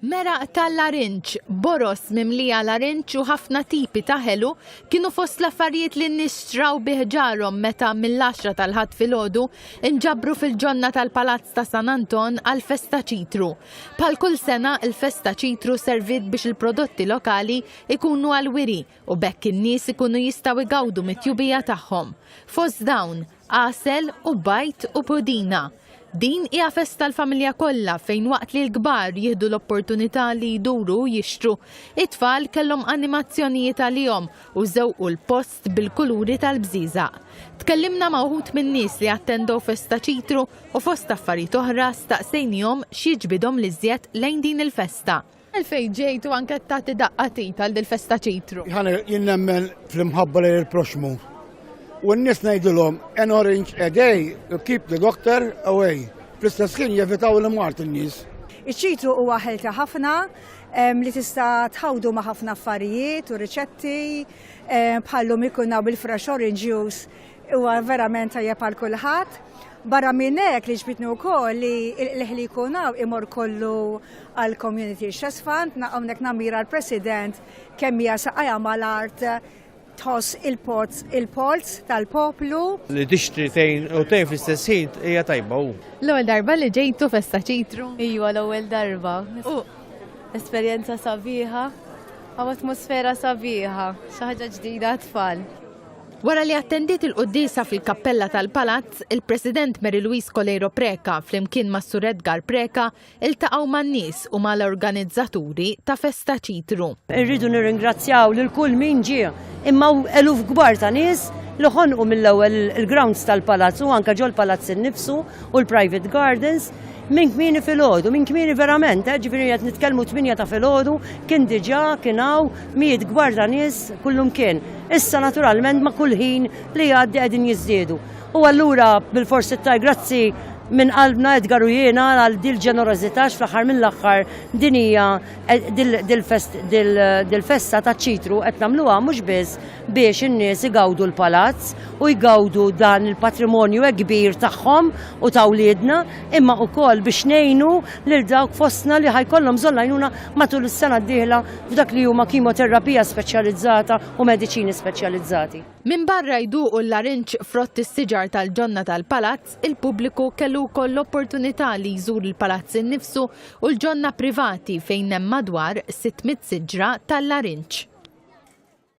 Meraq tal-larinġ, boroż mimlija larinġ u ħafna tipi ta' ħelu kienu fost l-affarijiet li n-nies xtraw bih ġarhom meta mill-għaxra tal-Ħadd filgħodu nġabru fil-ġonna tal-Palazz ta' San Anton għall-Festa Ċitru. Bħal kull sena, il-Festa Ċitru serviet biex il-prodotti lokali jkunu għall-wiri u b'hekk in-nies ikunu jistgħu jgawdu mit-tjubija tagħhom. Fost dawn, għasel u bajd u pudina. Din hija festa l-familja kollha fejn waqt li l-kbar jieħdu l-opportunità li jduru u jixtru, it-tfal kellhom animazzjonijiet għalihom u żewqu l-post bil-kuluri tal-bżieżaq. Tkellimna ma' wħud min-nies li attendew festa Ċitru u fost affarijiet oħra staqsejnihom x'jiġbidhom l-iżjed lejn din il-festa. Għalfejn ġejt u anke tagħti daqqa tit għal dil-festa ċitru? Ħana jien nemmen fl-imħabba lejn il-proxmu. U n-nies ngħidilhom an orange a day keep the doctor away. Fl-istess ħin jevitaw l-imart in-nies. Iċ-ċitru huwa ħelta ħafna li tista' tħawdu ma' ħafna affarijiet u riċetti bħallum ikun hawn bil-fresh orange juice Huwa verament tajjeb għal kulħadd. Barra minn hekk li ġbitni wkoll li l-ħli jkun hawn imur kollu għal Community Chess Fund, hawnhekk namira l-President kemm hija saqajja mal-art tħoss il-poz il-polz tal-poplu. Li tixtri tejn u tejn fl-istess ħin hija tajba hu. L-ewwel darba li ġejtu festa ċitru? Ejwa l-ewwel darba. Esperjenza sabiħa, għaw atmosfera sabiħa, xi ħaġa ġdida tfal. Wara li attendiet il-quddiesa fil-kappella tal-Palazz, il-President Mary Louise Coleiro Preca flimkien ma' Sur Edgar Preca iltaqgħu man-nies u ma' l-organizzaturi ta' Festa Ċitru. Irridu nirringrazzjaw lil kull min ġie, imma hawn eluf kbar ta' nies li ħonqu mill-ewwel il-grounds tal-Palazz u anke ġol-Palazz innifsu u l-private gardens. Minn kmieni filgħodu, minn kmieni verament, eh, ġifieri qed nitkellmu tminja ta' filgħodu, kien diġà kien hawn mijiet kbar ta' nies kullum kien. Issa naturalment ma' kull ħin li jgħaddi qegħdin jiżdiedu. U allura bilfors ittaj grazzi minn qalbna Edgar u jiena għal dil ġenerożità x'fl-aħħar mill-aħħar din hija eh, dil-festa taċ-ċitru qed nagħmluha mhux biss biex in-nies igawdu l-palazz u jgawdu dan il-patrimonju hekk kbir tagħhom u ta' wliedna, imma wkoll biex ngħinu lil dawk fostna li ħajkollhom bżonn l-għajnuna matul is-sena d-dieħla f'dak li huma kimoterapija speċjalizzata u mediċini speċjalizzati. Minbarra jduqu l-larinġ frott is-siġar tal-ġonna tal-palazz, il-pubbliku kellu wkoll l-opportunità li jżur il-palazz innifsu u l-ġonna privati fejn hemm madwar 600 siġra tal-larinġ.